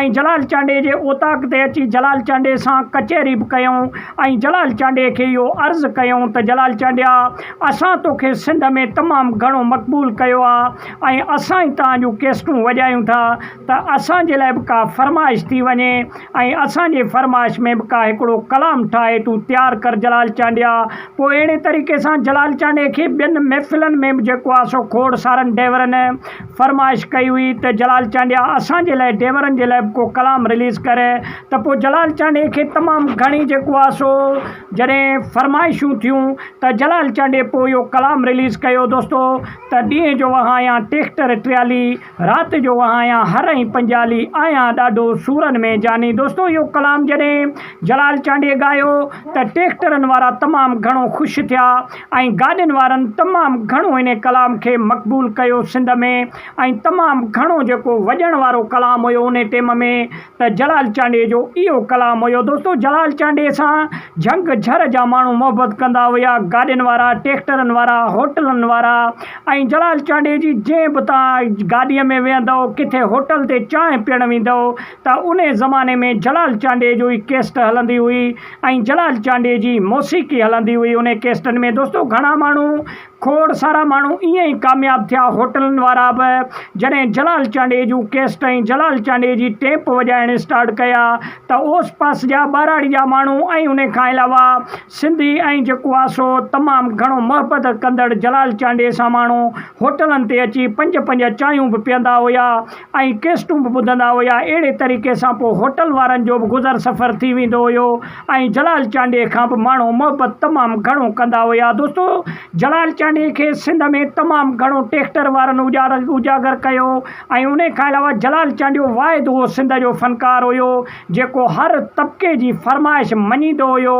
۽ جلال چانڊيي جي اوطاق تي اچي جلال چانڊيي سان ڪچهري به ڪيائون ۽ جلال چانڊيي کي اهو عرض ڪيائون ته جلال چانڊيا اسان توکي سنڌ ۾ تمام گهڻو مقبول ڪيو آهي ۽ اسان ئي توهان جون ڪيسٽون وڄايون ٿا ته اسان جي لاء به ڪا فرمائش ٿي وڃي ۽ اسان جي فرمائش ۾ به ڪا هڪڙو ڪلام ٺاهي تون تيار ڪر جلال چانڊيا پوء اهڙي طريقي سان جلال چانڊيي کي ٻين محفلن ۾ به جيڪو آهي سو کوڙ سارن ڊيورن فرمائش ڪئي هئي ته جلال چانڊيا اسان جي لاء ڊيورن جي لاء به ڪو ڪلام رليز ڪر ته پوء جلال چانڊيي کي تمام گهڻي جيڪو آهي سو جڏهن فرمائشون ٿيون ته جلال چانڊيي پوء اهو ڪلام رليز ڪيو دوستو ته ڏينهن جو وهايان ٽيڪٽر ٽيالي رات جو وهايان هر ۽ پنجالي آهيان ڏاڍو سورن ۾ جاني دوستو اهو ڪلام جڏهن جلال چانڊيي ڳايو ته ٽيڪٽرن وارا تمام گهڻو خوش ٿيا ۽ گاڏين وارن تمام گهڻو ان ڪلام کي مقبول ڪيو سنڌ ۾ ۽ تمام گهڻو جيڪو وڄڻ وارو ڪلام هيو ان ٽيم ۾ ته جلال چانڊيي جو اهو ڪلام هيو دوستو جلال چانڊيي سان جهنگ جهر جا ماڻهو محبت ڪندا هيا گاڏين وارا ٽيڪٽرن وارا هوٽلن وارا ۽ جلال چانڊيي جي جنهن به تان گاڏي ۾ ويهندؤ ڪٿي هوٽل تي چانهه پيئڻ ويندؤ ته انهي زماني ۾ جلال چانڊيي جو ئي ڪيسٽ هلندي هئي ۽ جلال چانڊيي جي موسيقي هلندي هئي انهي ڪيسٽن ۾ دوستو گهڻا ماڻهو کوڙ سارا ماڻهو ائين ئي ڪامياب ٿيا هوٽلن وارا به جڏهن جلال چانڊيي جون ڪيسٽ ۽ جلال چانڊيي جي ٽيپ وڄائڻ اسٽارٽ ڪيا ته اوس پاس جا ٻهراڙي جا ماڻهو ۽ انهي کان علاوه سنڌي ۽ جيڪو آ سو تمام گهڻو محبت ڪندڙ جلال چانڊيي سان ماڻهو هوٽلن تي اچي پنج پنج چانهيون به پيئندا هيا ۽ ڪيسٽون به ٻڌندا هيا اهڙي طريقي سان پوء هوٽل وارن جو به گذر سفر ٿي ويندو هيو ۽ جلال چانڊيي کان به ماڻهو محبت تمام گهڻو ڪندا هيا دوستو جلال چانڊيي کي سنڌ ۾ تمام گهڻو ٽيڪٽر وارن اجاگر ڪيو ۽ انهي کان علاوه جلال چانڊيو واحد اهو سنڌ جو فنڪار هيو جيڪو هر طبقي جي فرمائش مڃيندو هيو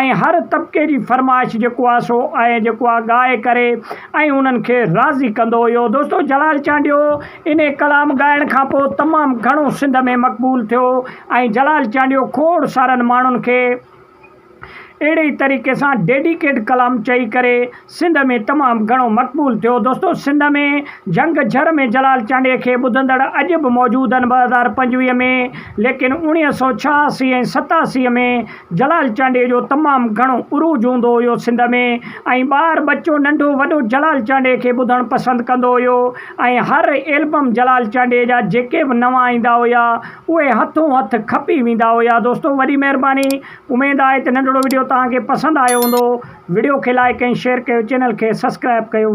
۽ هر طبقي جي فرمائش جيڪو آهي سو ائين جيڪو آهي ڳائي ڪري ۽ انهن کي راضي ڪندو هيو دوستو جلال چانڊيو انهي ڪلام ڳائڻ کان پوء تمام گهڻو سنڌ ۾ مقبول ٿيو ۽ جلال چانڊيو کوڙ سارن ماڻهن کي اهڙي ئي طريقي سان ڊيڊيڪيٽ ڪلام چئي ڪري سنڌ ۾ تمام گهڻو مقبول ٿيو دوستو سنڌ ۾ جهنگ جهر ۾ جلال چانڊيي کي ٻڌندڙ اڄ به موجود آهن ٻه هزار پنجويهه ۾ ليڪن اوڻيهه سؤ ڇهاسي ۽ ستاسي ۾ جلال چانڊيي جو تمام گهڻو عروج هوندو هيو سنڌ ۾ ۽ ٻار ٻچو ننڍو وڏو جلال چانڊيي کي ٻڌڻ پسند ڪندو هيو ۽ هر ايلبم جلال چانڊيي جا جيڪي به نوان ايندا هيا اهي هٿون هٿ کپي ويندا هيا دوستو وڏي مهرباني اميد آهي ته ننڍڙو وڊيو توهان کي پسند آيو هوندو وڊيو کي لائڪ ۽ شيئر ڪيو چينل کي سسڪرائب ڪيو.